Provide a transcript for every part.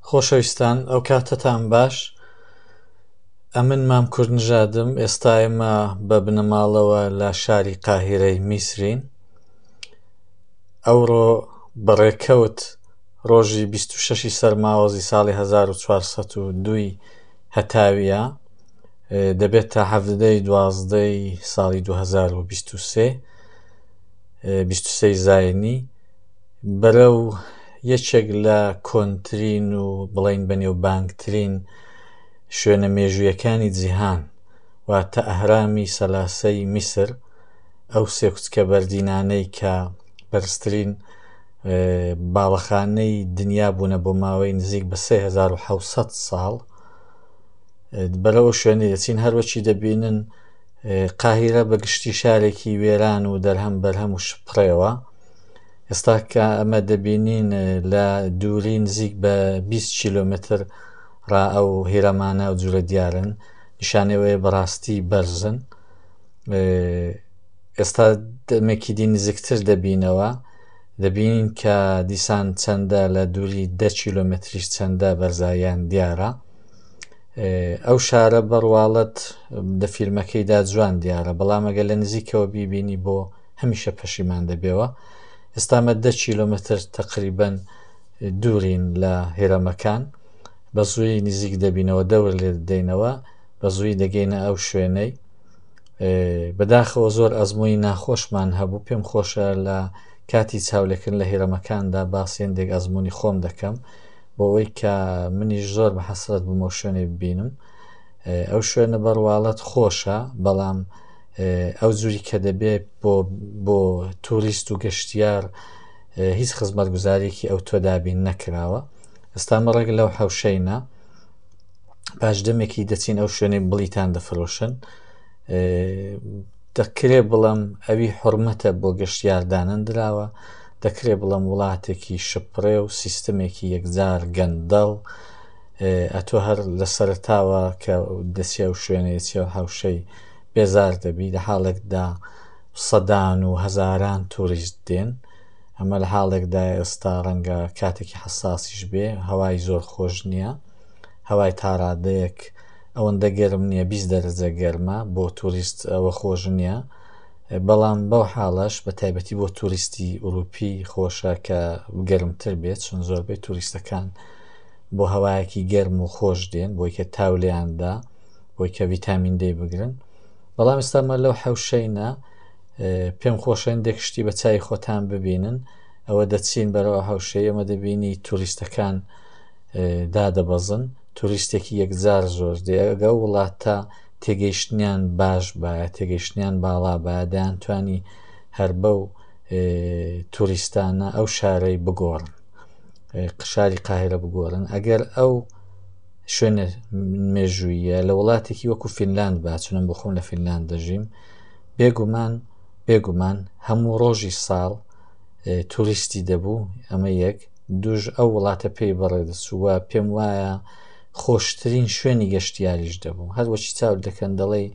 خۆشەویستان ئەو کاتتان باش ئەمن مام کورد نژادم ئێستا ئێمە بە بنەماڵەوە لە شاری قاهرەی میسرین ئەوڕۆ بەڕێکەوت ڕۆژی 26 سەرماوەزی ساڵی 1970 هەتاویە دەبێت تا هەفتدەی دوازدەی ساڵی 2023 23 زاینی بەرە و یەکێک لە کۆنترین و بڵین بەنێوبانگترین شوێنە مێژوویەکانی جیهان واتە ئەهرامی سەلاسەی میسر ئەو سێکچکە بەردینانەی کە بەرزترین باڵەخانەی دنیا بوونە بۆ ماوەی نزیک بە 1970 ساڵ بەرەوە شوێنی دەچین هەروەچی دەبینن قاهیرە بە گشتی شارێکی وێران و دەرهەم بەرهەم و شپڕێوە ئێستا کە ئەمە دەبینین لە دووری نزیک بە 20 کیلومتر ڕا ئەو هێرەمانە و جورە دیارن نیشانەوەی بەڕاستی بەرزن ئێستا دەمێکی دی نزیکتر دەبینەوە دەبینین کە دیسان چەندە لە دووری دە کیلومتریش چەندە بەرزاییان دیارە ئەو شارە بە ڕواڵەت لە فیلمەکەیدا جوان دیارە بەڵام ئەگەر لە نزیکەوە بیبینی بۆ هەمیشە پەشیمان دەبێەوە ئێستامە دە کیلومتر تقریبن دوورین لە هێرەمەکان بە زووی نزیک دەبینەوە دەور لێ دەینەوە بە زووی دەگەینە ئەو شوێنەی بەداخەوە زۆر ئەزمموی ناخۆشمان هەبوو پێم خۆشە لە کاتی چاولەکن لە هێرەمەکاندا باسیێندێک ئەزمموی خۆم دەکەم بەوەی کە منیش زۆر بە حەسرەت بووم ئەو شوێنەی ببینم ئەو شوێنە بەڕواڵەت خۆشە بەڵام ئەو جووری کە دەبێت بۆ بۆ توریست و گەشتیار هیچ خزمەت گوزارێکی ئەو تۆ دابین نەکراوە ئێستا مەڕێک لەو حەوشەینە پاش دەمێکی دەچین ئەو شوێنەی بڵیتان دەفرۆشن دەکرێ بڵم ئەوی حرمەتە بۆ گەشتیاردانەن دراوە دەکرێ بڵێم وڵاتێکی شپڕێ و سیستمێکی یەکجار گەندەڵ ئەتۆ هەر لە سەرتاوە کە دەچێ و شوێنێ چێ هاوشەی بێزار دەبی لە حاڵێکدا سەدان و هەزاران توریست دێن ئەمە لە حاڵێکدا ئێستا ڕەنگە کاتێکی حساسیش بێ هەوای زۆر خۆش نییە هەوای تاڕادەیەک ئەوەندە گەرم نییە بیست دەرەجە گەرمە بۆ توریست ئەوە خۆش نییە بەڵام بەو حاڵەش بە تایبەتی بۆ توریستی ئوروپی خۆشە کە گەرمتر بێت چون زۆربەی توریستەکان بۆ هەوایەکی گەرم و خۆش دێن بۆی کە تاولیاندا بۆی کە ویتامین دەی بگرن بەڵام ئێستامە لەو حەوشەینە پێم خۆشێن دێک شتی بە چای خۆتان ببینن ئەوە دەچین بەرەوە حەوشەی ئەمە دەبینی توریستەکان دادەبەزن توریستێکی یەکجار زۆر دێگە وڵاتە تێگەیشتنیان باش بایە تێگەیشتنیان باڵا بایە دەیانتوانی هەر بەو توریستانە ئەو شارەی بگۆڕن قشاری قاهرە بگۆڕن ئەگەر ئەو شوێنە مێژوویە لە وڵاتێکی وەکو فینلاند باچنم بخۆم لە فینلاند دەژیم بێگومان بێگومان هەموو ڕۆژی ساڵ توریستی دەبوو ئەمە یەک دوژ ئەو وڵاتە پێی بەڕێدەسووە پێم وایە خۆشترین شوێنی گەشتیاریش دەبوو. هەر وەکی چاوت دەکەن دەڵێی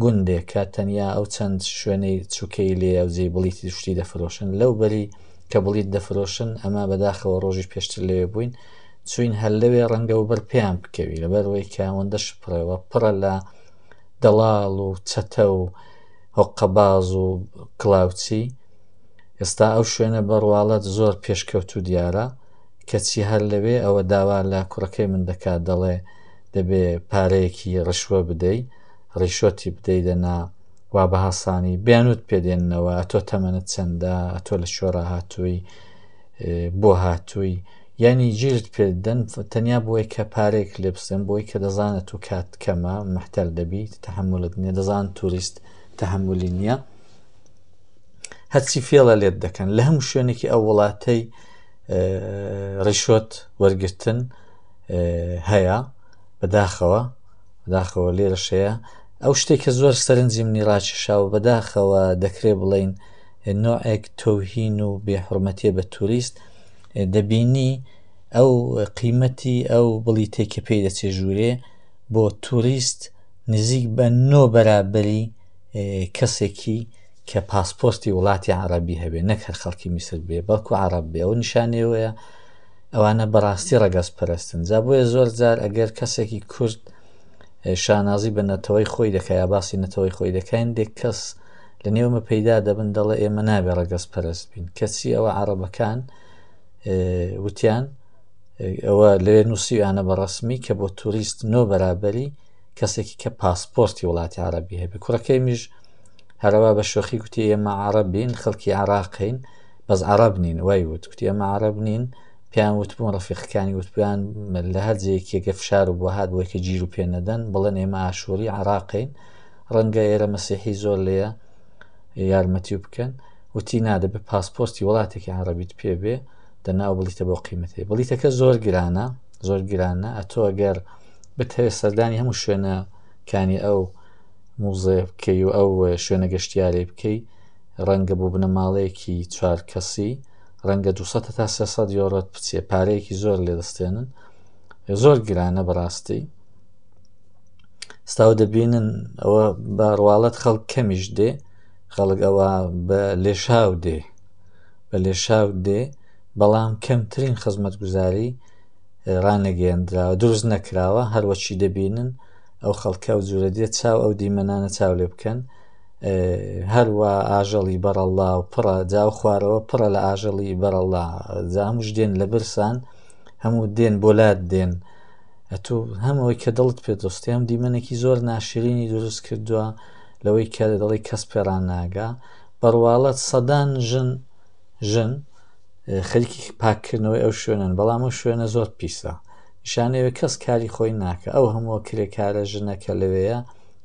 گوندێکە، تەنیا ئەو چەند شوێنەی چووکەی لێیە و جێی بڵیتی شتی دەفرۆشن. لەو بەری کە بڵیت دەفرۆشن، ئەمە بەداخەوە ڕۆژی پێشتر لەوێ بووین، چووین هەر لەوێ ڕەنگە و بەر پێیان بکەوی، لەبەرئەوەی کە ئەوەندە شپڕەوە پڕە لە دەڵاڵ و چەتە و هۆققەباز و کڵاوچی. ئێستا ئەو شوێنە بە ڕواڵەت زۆر پێشکەوتوو دیارە. کەچی هەر لەوێ ئەوە داوا لە کوڕەکەی من دەکات دەڵێ دەبێ پارەیەکی ڕشوە بدەی ڕیشۆتی بدەی دەنا وا بە هەسانی بیانوت پێدێننەوە ئەتۆ تەمەنت چەندە ئەتۆ لە شۆرا هاتووی بۆ هاتووی یعنی جیرت پێدەن تەنیا بۆی کە پارێک لێ بسێن بۆی کە دەزانێت و کات کەمە محتەل دەبی تحملت نیە دەزان توریست تحملی نییە هەرچی فێڵە لێت دەکەن لە هەموو شوێنێکی ئەو وڵاتەی ڕیشۆت وەرگتن هەیە بەداخەوە داخەوە لێرەشەیە ئەو شتێک کە زۆر سەرنجی منی ڕاکیشاوە بەداخەوە دەکرێ بڵین نوعێک تۆهین و بێحرمەتێ بە توریست دەبینی ئەو قیمەتی ئەو بڵی تێکە پێی دەچێ ژوورێ بۆ توریست نزیک بە نۆ بەرابری کەسێکی کە پاسپۆرتی وڵاتی عەڕەبی هەبێ نەک هەر خەڵکی میسر بێ بەڵکو عەڕەب بێ ئەوە نیشانەی ئەوەیە ئەوانە بەڕاستی ڕەگەز پەرستن جا بۆیە زۆر جار ئەگەر کەسێکی کورد شانازی بە نەتەوەی خۆی دەکە یا باسی نەتەوەی خۆی دەکەین دێک کەس لە نێومە پەیدا دەبن دەڵێ ئێمە نابێ ڕەگەز پەرست بین کەچی ئەوە عربەکان وتیان ئەوە لەوێ نووسیانە بە ڕسمی کە بۆ توریست نۆ بەرابەری کەسێکی کە پاسپۆرتی وڵاتی عربی هەبێ کوڕەکەی میش هەرەوا بە شۆخی کوتی ئێمە عرب بین خەڵکی عراقین بەس عرب نین وای وت کوتی ئەمە عرب نین پێیان وتبوون ڕفیقەکانی وتپیان لە هەر جێکێکە فشار و بۆ هاات بۆیکە گیر و پێ نەدەن بڵێن ئێمە ئاشووری عراقین ڕەنگە ئێرە مەسیحی زۆر لێە یارمەتی و بکەن وتی نادە بە پاسپۆستی وڵاتێکی عربیت پێ بێ دەناو بڵیتە بۆ قیمەتی بڵیتەکە زۆر گرانە زۆر گرانە ئەتۆ ئەگەر بتەوێت سەردانی هەموو شوێنە کانی ئەو موزەیە بکەی و ئەو شوێنە گەشتیارەی بکەی ڕەنگە بۆ بنەماڵەیەکی چوار کەسی ڕەنگە 200 تا 300 یۆرۆت بچێ پارەیەکی زۆر لێدەستێنن زۆر گرانە بەڕاستی ستاو دەبینن ئەوە بە ڕواڵەت خەڵک کەمیش دێ خەڵک ئەوە بە لێشاو دێ بە لێشاو دێ بەڵام کەمترین خزمەت گوزاری ڕانەگەێندراوە دروست نەکراوە هەروەچی دەبینن ئەو خەڵکە و جوورە دێت چاو ئەو دیمەنانە چاو لێ بکەن هەروە ئاژەڵی بەڕەڵا و پڕە جاو خوارەوە پڕە لە ئاژەڵی بەرەڵا زامش دێن لە برسان هەموو دێن بۆلات دێن ئەتو هەمەوەی کە دڵت پێ دۆستیان دیمەنێکی زۆر ناشرینی دروست کردووە لەوەی کە دەڵی کەس پێران ناگا بەڕواڵەت سەدان ژن ژن خەریکی پاککردنەوەی ئەو شوێنن بەڵام ئەو شوێنە زۆر پیسە شانەوێ کەس کاری خۆی ناکە ئەو هەمووە کرێکارە ژنەکە لەوەیە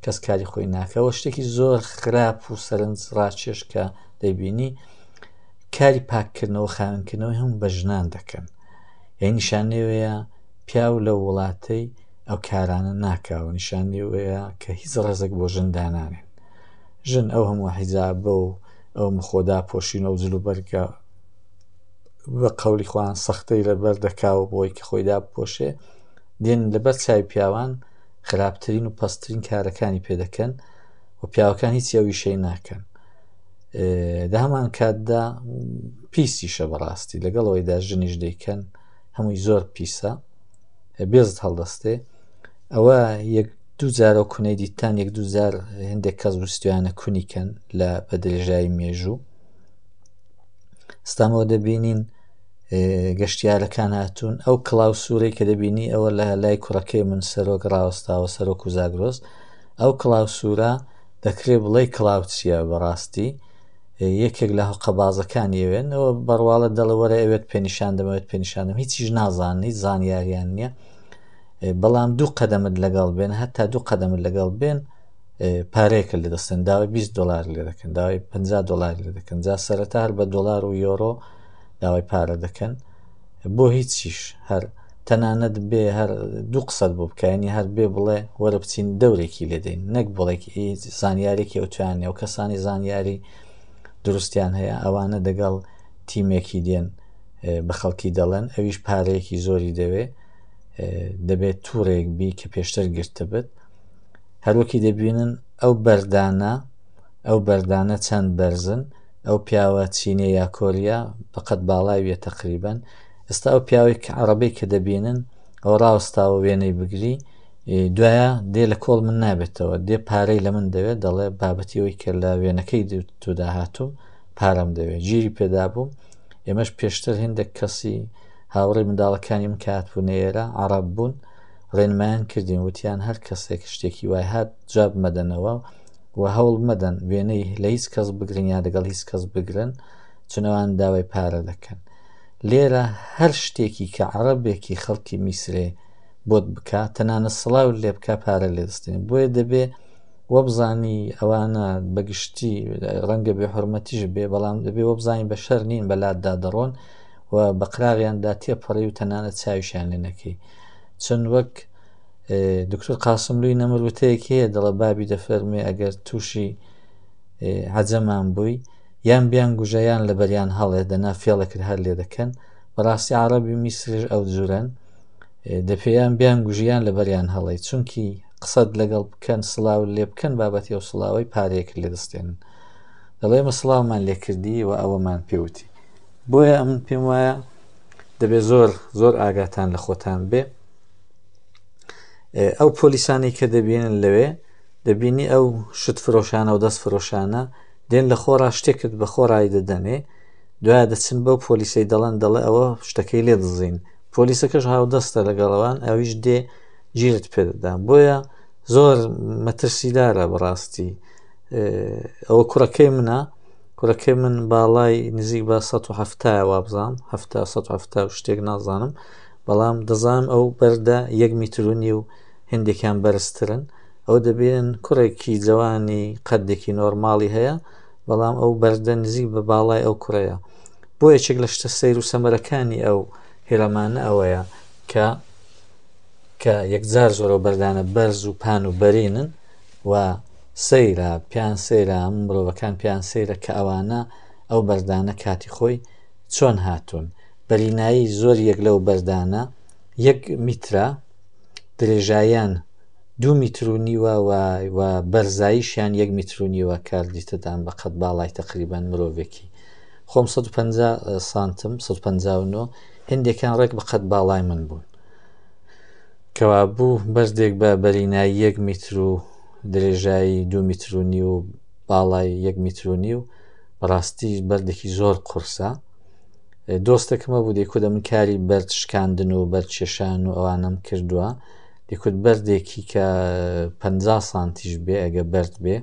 کەس کاری خۆی ناکەەوە شتێکی زۆر خراپ و سەرنج ڕاکێش کە دەیبینی کاری پاککردنەوە خاوێنکردنەوەی هەم بە ژنان دەکەن یە نیشانەوەیە پیاو لە وڵاتەی ئەو کارانە ناکاوە نیشانەوەیە کە هیچ ڕێزێک بۆ ژندانانێن ژن ئەو هەموو حیزابە و ئەو مخۆدا پۆشینە و جلوبەرگە بە قولی خۆیان سەختەی لەبەر دەکاوە بۆی کە خۆی داپۆشێ دێن لەبەر چای پیاوان خراپترین و پسترین کارەکانی پێ دەکەن و پیاوەکان هیچ ئەویشەی ناکەن لە هەمان کاتدا پیسیشە بەڕاستی لەگەڵەوەیدا ژنیش دەیکەن هەمووی زۆر پیسە بێزت هەڵدەستێ ئەوە یەک دوو جارە و کونەی دیتان یەک دوو جار هەندێک کەس وستویانە کونیکەن لە بە درێژایی مێژوو ستامۆ دەبینین گەشتیارەکان هاتوون ئەو کلااو سوورەی کە دەبینی ئەوە لە لای کوڕەکەی من سەرۆک ڕاوەستاوە سەرۆک و زاگرۆس ئەو کلااو سوورە دەکرێت بڵێ کلااوچیە بەڕاستی یەکێک لە هەقەبازەکان یەوێنەوە بڕواڵە دەڵەوەرە ئەوێت پێنیشان دەمەوێت پێنیشانم هیچیش نازانانی زانیاریان نییە بەڵام دوو قەدەمت لەگەڵ بێن هەتا دوو قەدەمت لەگەڵ بێن پارەیەکە لە دەستن داوای 20 دلار لێ دەکەن داوای 50 دلار لێ دەکەن جا سەرەتا هەر بە دلار و یۆرۆ داوای پارە دەکەن بۆ هیچیش هەر تەنانەت بێ هەر دوو قسەت بۆ بکەنی هەر بێ بڵێ وەرە بچین دەورێکی لێدەین نەک بڵێک زانیارێکی ئەوتوان نێو کەسانی زانیاری دروستیان هەیە ئەوانە دەگەڵ تیمێکی دێن بە خەڵکی دەڵێن ئەویش پارەیەکی زۆری دەوێ دەبێت توورێک بی کە پێشتر گرتە بێت هەروەکی دەبینن ئەو بەردانە ئەو بەردانە چەند بەرزن ئەو پیاوە چینە یا کۆریا بەقەت باڵاویە تقریبن ئستا ئەو پیاوی کە عربی کە دەبینن ئەو ڕاوستاوە وێنەی بگری دوایە دێ لە کۆڵ من نابێتەوە دێ پارەی لە من دەوێت دەڵێ بابەتی ئەوی کە لە وێنەکەی تودا هاتووم پارەم دەوێت گیری پێدا بووم ئێمەش پێشتر هندێک کەسی هاوڕێ منداڵەکانی من کات بوو نێرە عرب بوون ڕێنمایان کردین وتیان هەر کەسێک شتێکی وای هات جواب مەدەنەوە و هەوڵ مەدەن وێنەی لە هیچ کەس بگرن یا لەگەڵ هیچ کەس بگرن چنەوان داوای پارە دەکەن لێرە هەر شتێکی کە عربێکی خەڵکی میسرێ بۆت بکە تەنانە سڵاو لێ بکە پارە لێدەستێن بۆیە دەبێ وەبزانی ئەوانە بەگشتی ڕەنگە بێ حرمەتیش بێ بەڵام دەبێ وەبزانین بە شەر نین بەلاتدا دەڕۆن و بەقراغیاندا تێپەڕی و تەنانە چاویشیان لێ نەکەی چەند وەک دکتور قاسملوی نەمر وتەیەک هەیە دەڵە بابی دەفەرمێ ئەگەر تووشی عەجەمان بووی یان بیان گوژەیان لە بەریان هەڵێ دەنا فێڵەکرد هەر لێ دەکەن بەڕاستی عربی میسرش ئەو جورەن دەپێیان بیان گوژیان لە بەریان هەڵی چونکی قسەت لەگەڵ بکەن سلااو لێ بکەن بابەتی ئەو سلااوی پارەیەک لێ دەستێن دەڵێ مەسلااومان لێکردی و ئەوەمان پێوتی بۆیە ئەمن پێم وایە دەبێت زۆر زۆر ئاگاتان لە خۆتان بێ ئەو پۆلیسانی کە دەبینن لەوێ دەبینی ئەو شت فرۆشانە و دەست فرۆشانە دێن لە خۆڕا شتێکت بە خۆڕایی دەدەنێ دوای دەچن بەو پۆلیسەی دەڵەن دەڵێ ئەوە شتەکەی لێ دەزین پۆلیسەکەش هاودەستە لەگەڵەوان ئەویش دێ ژیرت پێدەدا بۆیە زۆر مەترسیدارە بەڕاستی ئەوە کوڕەکەی منە کوڕەکەی من باڵای نزیک بە ١٧٠ وابزانم هەفتا ١هەفتا و شتێک نازانم بەڵام دەزانم ئەو بەردە یەک میترونی و هندێکیان بەرزترن ئەو دەبێن کوڕێکی جوانی قەدێکی نۆرماڵی هەیە بەڵام ئەو بەردە نزیک بە باڵای ئەو کوڕەیە بۆ یەکێک لە شتە سەیر و سەمەرەکانی ئەو هێرەمانە ئەوەیە کە کە یەکجار زۆرە بەردانە بەرز و پان و بەرینن و سەیرە پێیان سەیرە ئەم مرۆڤەکان پێیان سەیرە کە ئەوانە ئەو بەردانە کاتی خۆی چۆن هاتوون بەرینایی زۆر یەک لەو بەردانە یەک میترا درێژایان دوو میترونیوە و بەرزاییشیان یەک میترونیوە کار دیتەدان بە قەت باڵای تقریبان مرۆڤێکی خۆم 150 سانتم 159 هندێکان ڕێک بە قەت باڵای من بوون کەوابوو بەردێک بە بەرینایی یەک میتر و درێژایی دو میتر و نیو و باڵای یەک میتر و نیو بەڕاستی بەردێکی زۆر قورسە دۆستەکەمە بوو دەکوتە من کاری بەرد شکاندن و بەرچێشان و ئەوانم کردووە دەکوت بەردێکی کە پ سانتیش بێ ئەگە بەرد بێ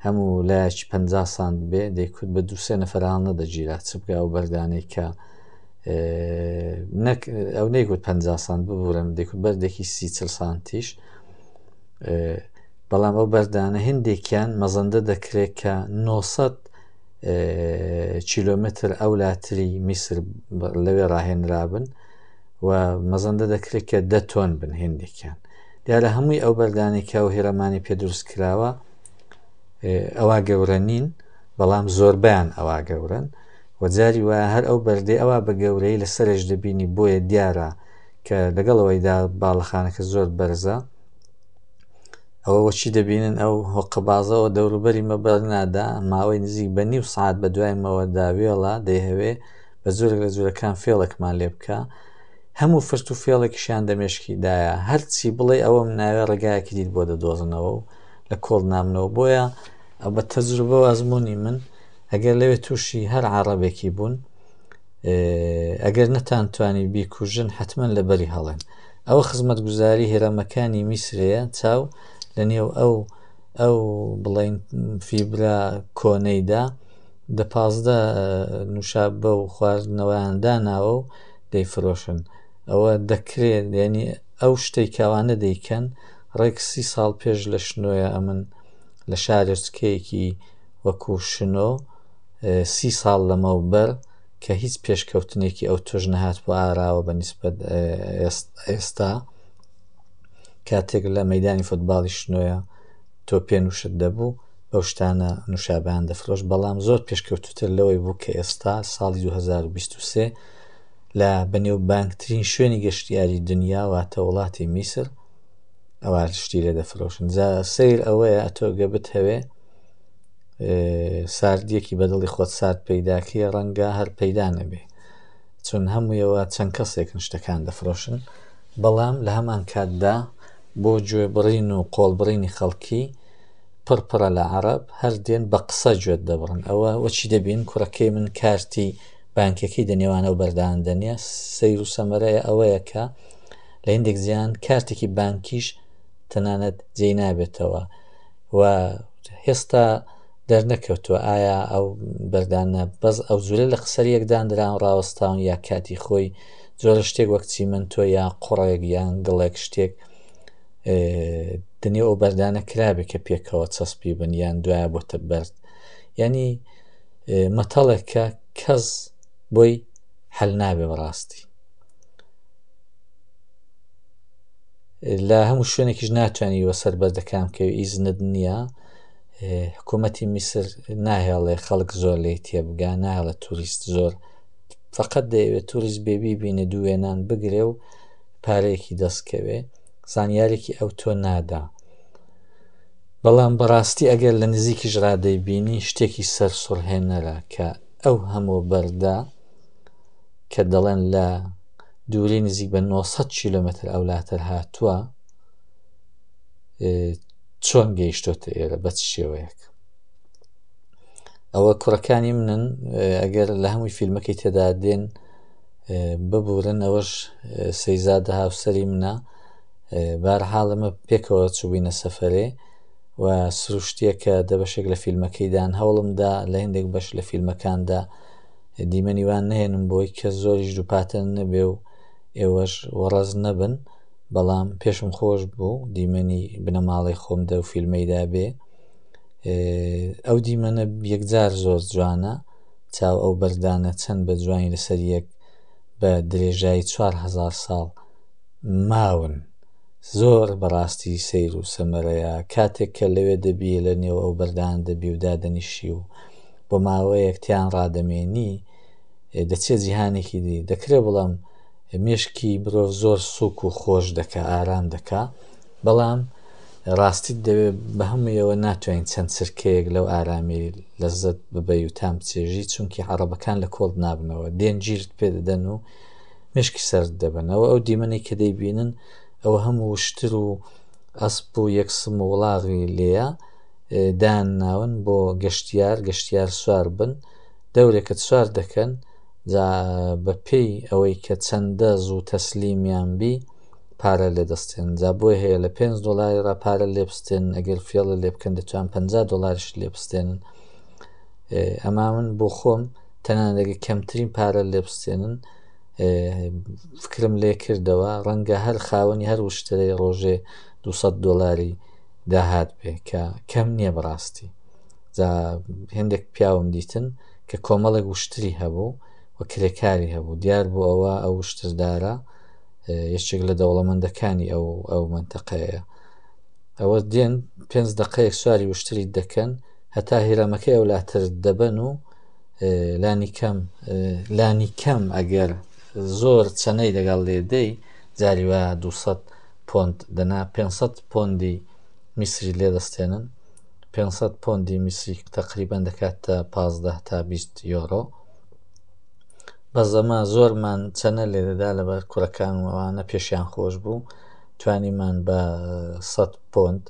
هەموو لایەکی پ سانت بێ دەیکوت بە دووسێ نەفرانە دەگیرا چ بگە ئەو بەردانێک کە نەک ئەو نەیگوت پ سان ببورن دەکوت بەردێکی سی چل سانتیش بەڵام ئەو بەردانە هندێکیان مەزەندە دەکرێت کە 900 کیلومتر ئەو لاتری میسر لەوێ ڕاهێنرابن و مەزەندە دەکرێت کە دە تۆن بن هندێکیان دیارە هەمووی ئەو بەردانێکە و هێرەمانی پێ دروست کراوە ئەوە گەورە نین بەڵام زۆربیان ئەوە گەورن وە جاری وایە هەر ئەو بەردەی ئەوا بە گەورەیی لە سەرێش دەبینی بۆیە دیارە کە لەگەڵ ئەوەیدا باڵەخانەکە زۆر بەرزە ئەوە وەچی دەبینن ئەو هۆقەبازەوە دەوروبەری مەبەرنادا ماوەی نزیک بە نیو سعات بە دوای مەوەدا وێڵە دەیهەوێ بە زۆرێک لە جورەکان فێڵێکمان لێ بکە هەموو فرت و فێڵێکیشیان دەمێشکیدایە هەرچی بڵێ ئەوەم ناوێ ڕێگایەکی دیت بۆ دەدۆزنەوە و لە کۆڵ نامنەوە بۆیە بە تەجروبە و ئەزمموی من ئەگەر لەوێ تووشی هەر عەڕەبێکی بوون ئەگەر نەتان توانی بیکوژن حتمما لە بەری هەڵێن ئەوە خزمەت گوزاری هێرەمەکانی میسرەیە چاو لە نێو ئەو ئەو بڵین فیبرا کۆنەیدا دە پازدە نووشابە و خواردنەوەیان داناوە و دەیفرۆشن ئەوە دەکرێت یعنی ئەو شتەی کاوانە دەیکەن ڕێک سی ساڵ پێش لە شنۆە ئەمن لە شارۆچکەیەکی وەکو شنۆ سی ساڵ لەمەوبەر کە هیچ پێشکەوتنێکی ئەو توش نەهات بۆ ئاراوە بە نسبەت ئێستا کاتێک لە مەدانی فوتباڵی شنۆە تۆ پێ نووشت دەبوو بەو شتانە نووشابیان دەفرۆش بەڵام زۆر پێشکەوتتر لەوەی بوو کە ئێستا ساڵی 2023 لە بەنێو بانکترین شوێنی گەشتیاری دنیا واتە وڵاتی میسر ئەوە شتی لێ دەفرۆشن جا سیر ئەوەیە ئەتۆگە بتهەوێ ساردیەکی بەدڵی خۆت سارد پەیداکەی ڕەنگە هەر پەیدا نەبێ چون هەموویەوە چەند کەسێکن شتەکان دەفرۆشن بەڵام لە هەمان کاتدا بۆ گوێبڕین و قۆڵبڕینی خەڵکی پڕپڕە لە عرب هەر دێن بە قسە گوێت دەبڕن ئەوە وەچی دەبین کوڕەکەی من کارتی بانکەکەی دەنێوانە و بەردان دەنیە سیر و سەمەرەیە ئەوەیە کە لە هندێک زیان کارتێکی بانکیش تەنانەت جێ نابێتەوە و هێستا دەرنەکەوتووە ئایا ئەو بەردانە بەس ئەو جورە لە قسەر یەکدان دران ڕاوەستاون یا کاتی خۆی جۆرە شتێک وەک چیمەنتۆ یا قوڕێک یان گڵێک شتێک دنێ ئەو بەردانە کرابێت کە پێکەوە چەسپی بن یان دوایە بۆتە بەرد ینی مەتەڵێک کە کەس بۆی هەل نابێ بەڕاستی لە هەموو شوێنێکیش ناتوانانی وە سەر بەردەکان بکەوی ئیزنت نییە حکوومەتی میسر ناهێڵێ خەڵک زۆر لی تێبگا ناهێڵە توریست زۆر فقط دەیەوێت توریست بێبی بینە دوێنان بگرێ و پارەیەکی دەستکەوێ زانیارێکی ئەو تۆ نادا بەڵام بەڕاستی ئەگەر لە نزیکی ژرادەی بینی شتێکی سەر سڕهێنەرە کە ئەو هەموو بەردا کە دەڵێن لە دووری نزیک بە 900 کیلومتر ئەولاتر هاتووە چۆن گەیشتۆتە ئێرە بە شێوەیەک ئەوە کوڕەکانی منن ئەگەر لە هەمووی فیلمەکەی تێدا دێن ببورن ئەوەش سەیزادە هاوسری منە بار حاڵمە پێکەوە چوبینە سەفرێ و سروشتیەکە دەبەشێک لە فیلمەکەیدان هەوڵمدا لە هندێک بەش لە فیلمەکاندا دیمەنی وا نەهێنن بۆی کە زۆریش دووپاتە نەبێ و ئێوەش وەڕەز نەبن بەڵام پێشم خۆش بوو دیمەنی بنەماڵی خۆم دە فیلمەیدا بێ ئەو دیمەنە یەکجار زۆر جوانە چاو ئەو بەردانە چەند بە جوانی لەسەر یەک بە درێژایی 4هزار ساڵ ماون زۆر بەڕاستی سیر و سەمەرەیە کاتێک کە لەوێ دەبی لە نێو ئەو بەردان دەبی و دادەنیشی و بۆ ماوەیەک تیان ڕادەمێنی دەچێت جیهانێکی دی دەکرێت بڵام مێشکی مرۆڤ زۆر سوک و خۆش دەکە ئارام دەکا بەڵام ڕاستیت دەوێت بە هەموویەوە ناتوانین چەند سرکەیەک لەو ئارامی لەزت ببی و تام بچێژی چونکی عڕبەکان لە کۆڵ نابنەوە دێن گیرت پێ دەدەن و مشکی سەر دەبنەوە ئەو دیمەنێک کە دەیبینن ئەوە هەموو شتر و ئەسپ و یەکسم و وڵاغی لێە دان ناون بۆ گەشتیار گەشتیار سوار بن دەورێکت سوار دەکەن جا بە پێی ئەوەی کە چەندە زوو تەسلیمیان بی پارە لێ دەستێن جا بۆی هەیە لە 5 دلاری را پارە لێبستێن ئەگەر فێڵە لێ بکەن دەتوان 50 دلاریش لێبستێنن ئەما من بۆ خۆم تەنانەگە کەمترین پارە لێبستێنن فکرم لێ کردەوە ڕەنگە هەر خاوەنی هەر وشتەی ڕۆژێ 200 دلاری داهات بێ کە کەم نییە بەڕاستی جا هێندێک پیاوم دیتن کە کۆمەڵێک وشتری هەبوو و کرێکاری هەبوو دیار بوو ئەوە ئەو وشتردارە یەکێک لە دەوڵەمەندەکانی ئەو ئەو منتەقەیە ئەوە دێن پێنج دقەیەک سواری وشتری دەکەن هەتا هیرەمەکە ئەولاتر دەبەن و لانی کەم لانی کەم ئەگەر زۆر چەنەی لەگەڵ لێدەی جاری وە دوسەد پۆند دەنا پێنج سەد پۆندی میسری لێ دەستێنن پێنج سەد پۆندی میسری تەقریبەن دەکاتە پازدە تا بیست یۆرۆ بەس ئەمە زۆرمان چەنە لێ دەدا لەبەر کورەکان و ئەوانە پێشیان خۆش بوو توانیمان بە سەد پۆند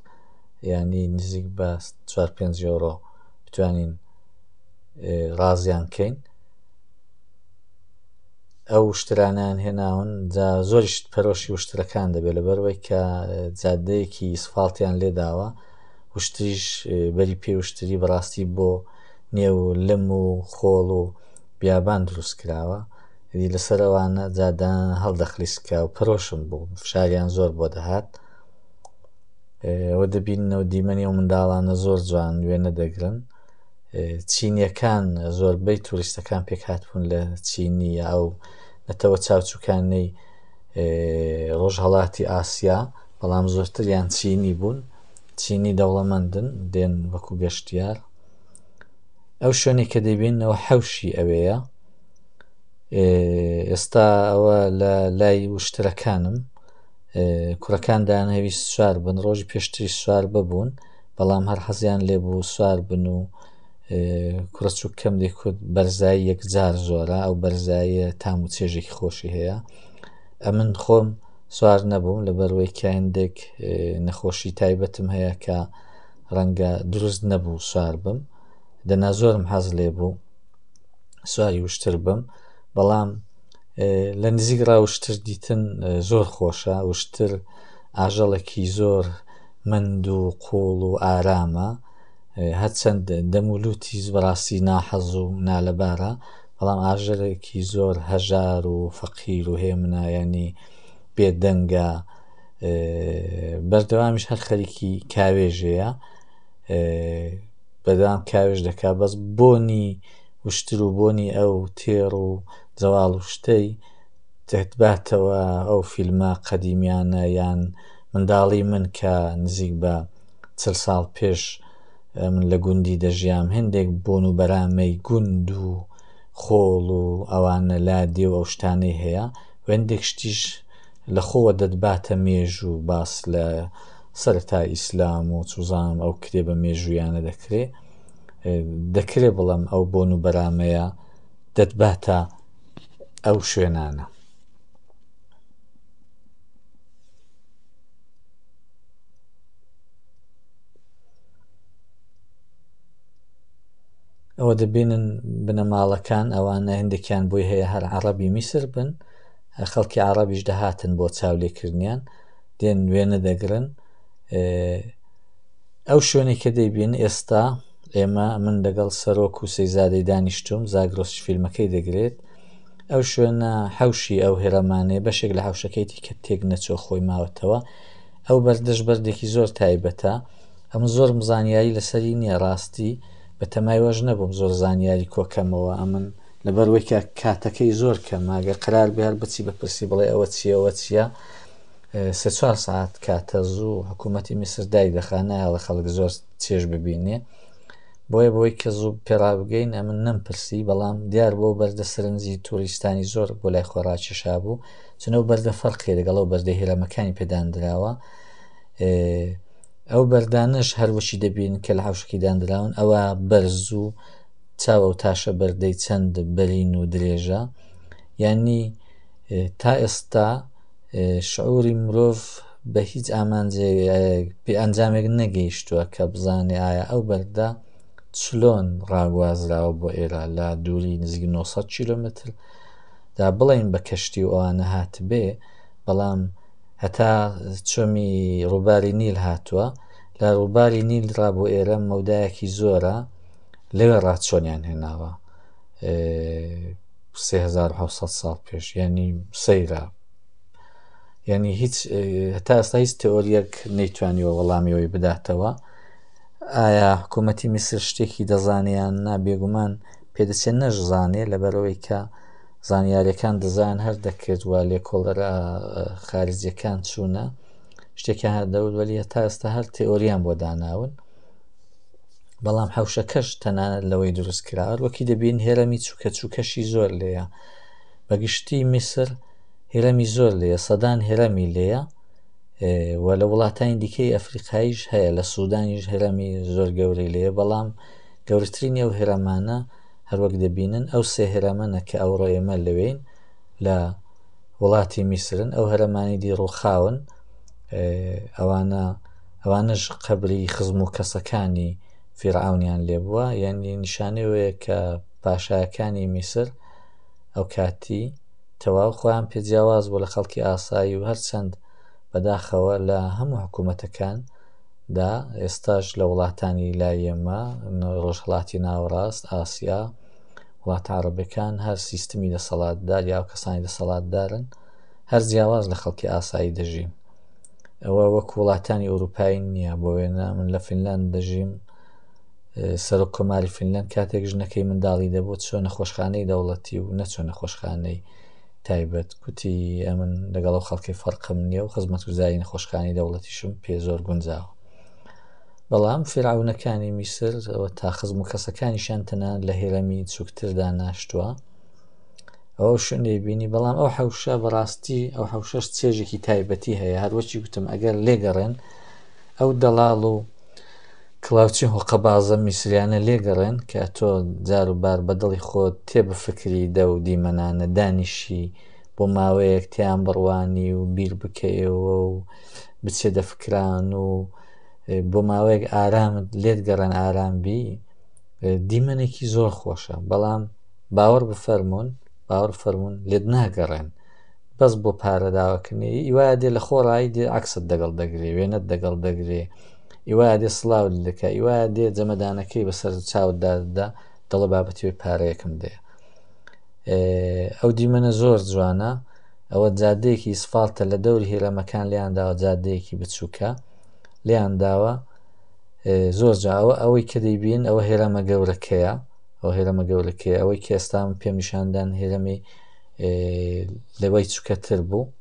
ینی نزیک بە چوار پێنج یۆرۆ بتوانین ڕازیان کەین ئەو وشترانیان هێناون جا زۆریش پەرۆشی وشترەکان دەبێت لەبەرەوەی کە جادەیەکی سفاڵتیان لێداوە وشتریش بەری پێ وشتری بەڕاستی بۆ نێو لم و خۆڵ و بیابان دروست کراوە دی لەسەر ئەوانە جادان هەڵدەخلیسکە و پەرۆشم بوو فشاریان زۆر بۆ دەهات ئەوە دەبینەوە دیمەنی و منداڵانە زۆر جوان وێنە دەگرن چینیەکان زۆربەی توریستەکان پێکهاتبوون لە چینی ئەو نەتەوە چاوچوکانەی ڕۆژهڵاتی ئاسیا بەڵام زۆرتریان چینی بوون چینی دەوڵەمەندن دێن وەکو گەشتیار ئەو شوێنی کە دەبینەوە حەوشی ئەوەیە ئێستا ئەوە لە لای وشترەکانم کوڕەکان دانەویست سوار بن ڕۆژی پێشتری سوار ببوون بەڵام هەر حەزیان لێ بوو سوار بن و کوڕە چووکەمدی کورد بەرزایی یەکجار زۆرە ئەو بەرزاییە تام و چێژێکی خۆشی هەیە ئەمن خۆم سوار نەبووم لە بەروەی کایندێک نەخۆشی تایبەتم هەیە کە ڕەنگە دروست نەبوو سوار بم دەنا زۆرم حەز لێ بوو سواری وشتر بم بەڵام لە نزیک ڕاوشتر دیتن زۆر خۆشە وشتر ئاژەڵێکی زۆر مەند و قوڵ و ئارامە هەرچەند دەم و لوتیش بەڕاستی ناحەز و نالەبارە بەڵام ئاژەڵێکی زۆر هەژار و فەقیر و هێمنە یانی بێدەنگە بەردەوامیش هەر خەریکی کاوێژەیە بەدەوام کاوێژ دەکا بەس بۆنی وشتر و بۆنی ئەو تێڕ و زەواڵ و شتەی دەتباتەوە ئەو فیلمە قەدیمیانە یان منداڵی من کە نزیک بە چل ساڵ پێش من لە گوندی دەژیام هێندێک بۆن و بەرامەی گوند و خۆڵ و ئەوانە لادێ و ئەو شتانەی هەیە و هێندێک شتیش لە خۆوە دەتباتە مێژوو باس لە سەرەتای ئیسلام و چوزانم ئەو کتێبە مێژوویانە دەکرێ دەکرێ بڵێم ئەو بۆن و بەرامەیە دەتباتە ئەو شوێنانە ئەوە دەبینن بنەماڵەکان ئەوانە هەندێکیان بۆی هەیە هەر عربی میسر بن خەڵکی عربیش دەهاتن بۆ چاولێکردنیان دێن وێنە دەگرن ئەو شوێنێک کە دەیبین ئێستا ئێمە من دەگەڵ سەرۆک و سەیزادەی دانیشتوم زاگرۆس فیلمەکەی دەگرێت ئەو شوێنە حەوشی ئەو هرەمانەیە بەشێک لە حەوشەکەیتی کە تێک نەچوە خۆی ماوەتەوە ئەو بەردەش بەردێکی زۆر تایبەتە ئەمە زۆرم زانیاری لەسەری نییە ڕاستی بە تەمای وەش نەبووم زۆر زانیاری کۆکەمەوە ئەمن لەبەروەی کە کاتەکەی زۆر کەماگە قرار بێر بچی بە پرسی بڵێ ئەوە چیەوە چییە سێ چوار ساعت کاتە زوو حکوومەتتی میسر دای دەخانایەڵە خەڵک زۆر چێش ببینێ بۆیە بۆی کە زوو پێڕابگەین ئەمن نەمپرسی، بەڵام دیار بوو ئەو بەردە سەرنجی تووریستانی زۆر بۆ لای خۆی ڕاکێشابوو، چون ئەو بەردە فەرقی لەگەڵ ئەو بەردە هیرەمەکانی پێ داندراوە. ئەو بەردانەش هەر وشی دەبین کە لە حەوشکی داندراون ئەوە بەرز و چاو ئەو تاشە بەردەی چەند بەرین و درێژە یانی تا ئێستا شعوری مرۆڤ بە هیچ ئامانجێک پێ ئەنجامێک نەگەیشتووە کە بزانێ ئایا ئەو بەردە چلۆن ڕاگوازراوە بۆ ئێرە لە دووری نزیک 900 کیلومتر دا بڵین بە کەشتی و ئەوانە هاتبێ بەڵام هەتا چۆمی ڕووباری نیل هاتووە لە ڕووباری نیل ڕا بۆ ئێرە مەودایەکی زۆرە لەوێ ڕاچۆنیان هێناوە سێ هەزار و حەوت سەد ساڵ پێش یانی سەیرە یعنی هیچ هەتا ئێستا هیچ تئۆریەک نەیتوانیوە وەڵامیەوەی بداتەوە ئایا حکوومەتی میسر شتێکی دەزانیان نا بێگومان پێدەچێت نەشزانێ لەبەرەوەی کە زانیارەکان دەزان هەر دەکرد و لێ کۆڵەرە خارجیەکان چوونە شتێکیان هەردەور وەلی هەتا ئێستا هەر تئۆریان بۆ داناون بەڵام حەوشەکەش تەنانەت لەوەی دروست کراوە وەکی دەبین هێرەمی چووکە چووکەشی زۆر لێە بەگشتی میسر هێرەمی زۆر لێە سەدان هێرەمی لێە و لە وڵاتانی دیکەی ئەفریقایش هەیە لە سوودانیش هەرمی زۆر گەورەی لێ بەڵام گەورترینی ئەو هەرمانە هەروەک دەبینن ئەو سێ هەرمەە کە ئەوڕۆ ئێمە لەوێین لە وڵاتی میسرن ئەو هەرمانی دی ڕووخاون ئەوانە ئەوانەش قەبری خزم و کەسەکانی فیرعەونیان لێ بووە یعنی نیشانەی وەیە کە پاشایەکانی میسر ئەو کاتی تەواو خۆیان پێ جیاواز بوو لە خەڵکی ئاسایی و هەرچەند بەداخەوە لە هەموو حکوومەتەکان دا ئێستاش لە وڵاتانی لایەمە ڕۆژهڵاتی ناوەڕاست ئاسیا وڵاتە عربەکان هەر سیستمی دەسەڵاتدار یا کەسانی دەسەڵاتدارن هەر جیاواز لە خەڵکی ئاسایی دەژین ئەوە وەک وڵاتانی ئەوروپایی نییە بۆ وێنە من لە فینلاند دەژیم سەرۆک کۆماری فینلند کاتێک ژنەکەی منداڵی دەبوو چۆ نەخۆشخانەی دەوڵەتی و نەچۆ نەخۆشخانەی تایبەت کوتی ئەمن لەگەڵ و خەڵکی فەرقم نییە و خزمەت وزاری نەخۆشخانی دەوڵەتیشم پێ زۆر گونجاوە بەڵام فراونەکانی میسر تا خزم و کەسەکانیشان تەنان لە هێرەمی چووکتردا ناشتووە ئەو شوێنی بینی بەڵام ئەو حەوشە بەڕاستی ئەو حەوشەش چێژێکی تایبەتی هەیە هەروەچی گوتم ئەگەر لێگەڕێن ئەو دەڵاڵ و کلااوچی هۆقە بازە میسریانە لێگەڕێن کە تۆ جار و بار بەدڵی خۆت تێ بفکری دە و دیمەنانە دانیشی بۆ ماوەیەک تیان بڕوانی و بیر بکەیەوە و بچێ دەفکران و بۆ ماوەیەک ئارامت لێت گەڕێن ئارام بی دیمەنێکی زۆر خۆشە بەڵام باوەڕ بفەرمونون باوەڕ فەرمونون لێت ناگەڕێن بەس بۆ پارە داواکردنی ئیوا دێ لە خۆڕایی دێ عکسست دەگەڵ دەگرێ وێنەت دەگەڵ دەگرێ ئیوا دێ سلااو دەکە ئیوا دێ جەمەدانەکەی بەسەر چاوددادا دەڵە بابەتی پارەیەکم دێ ئەو دیمەنە زۆر جوانە ئەوە جادەیەکی سفالتە لە دەور هێرەمەکان لیان داوە جادەیەکی بچووکە لیان داوە زۆر جاوە ئەوەی کە دەیبین ئەوە هێرەمە گەورەکەیە ئەو هێرەمە گەورەکەی ئەوەی کە ئێستا من پێم نیشاندان هێرەمی لەوەی چکەتر بوو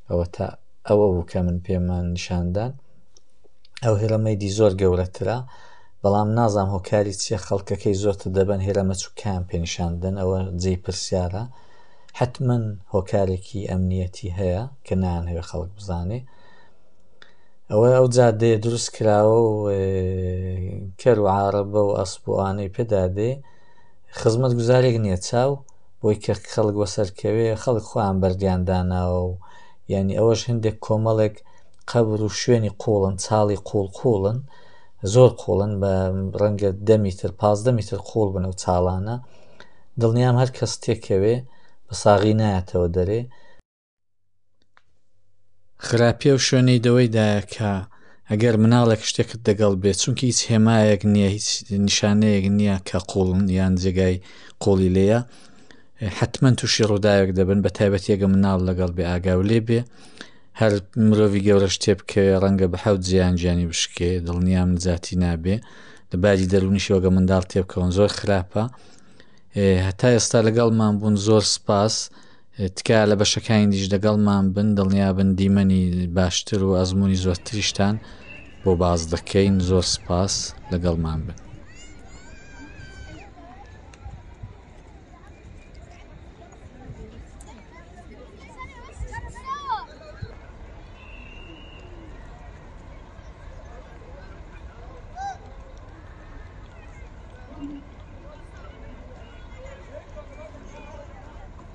ئەوە تا ئەوە بوو کە من پێمان نیشاندان ئەو هێرەمەی دی زۆر گەورەترە بەڵام نازام هۆکاری چیە خەڵکەکەی زۆرتر دەبن هێرەمە چووکیان پێنیشاندن ئەوە جێ پرسیارە حتمما هۆکارێکی ئەمنیەتی هەیە کە نانەوێت خەڵک بزانێ ئەوەی ئەو جادەیە دروست کراوە و کەر و عاڕەبە و ئەسب و ئانەی پێدادێ خزمەت گوزارێک نییە چاو بۆی کە خەڵک وەسەرکەوێ خەڵک خۆیان بەردیان داناوە و یعنی ئەوەش هەندێک کۆمەڵێک قەبر و شوێنی قوڵن چاڵی قوڵ قوڵن زۆر قوڵن بە ڕەنگە دە میتر پازدە میتر قوڵ بن و چاڵانە دڵنیام هەر کەس تێکەوێ بە ساغی نایەتەوە دەرێ خراپیە و شوێنەی دەوەی دایە کە ئەگەر مناڵێک شتێکت دەگەڵ بێت چونکە هیچ هێمایەک نییە هیچ نیشانەیەک نییە کە قوڵن یان جێگای قۆڵی لێە حتمما تووشی ڕووداوێک دەبن بە تایبەتیەگە مناڵ لەگەڵ بێ ئاگاو لێ بێ هەر مرۆڤی گەورە شتێ بکە ڕەنگە بە حەوت جیان گیانی بشکێ دڵنیام نجاتی نابێ لە باجی دەرونیشەوەگە منداڵ تێبکەون زۆر خراپە هەتا ئێستا لەگەڵمان بوون زۆر سپاس تکایە لە بەشەکانی دیش دەگەڵمان بن دڵنیابن دیمەنی باشتر و ئەزمموی زۆرتریشتان بۆ باز دەکەین زۆر سپاس لەگەڵمان بن.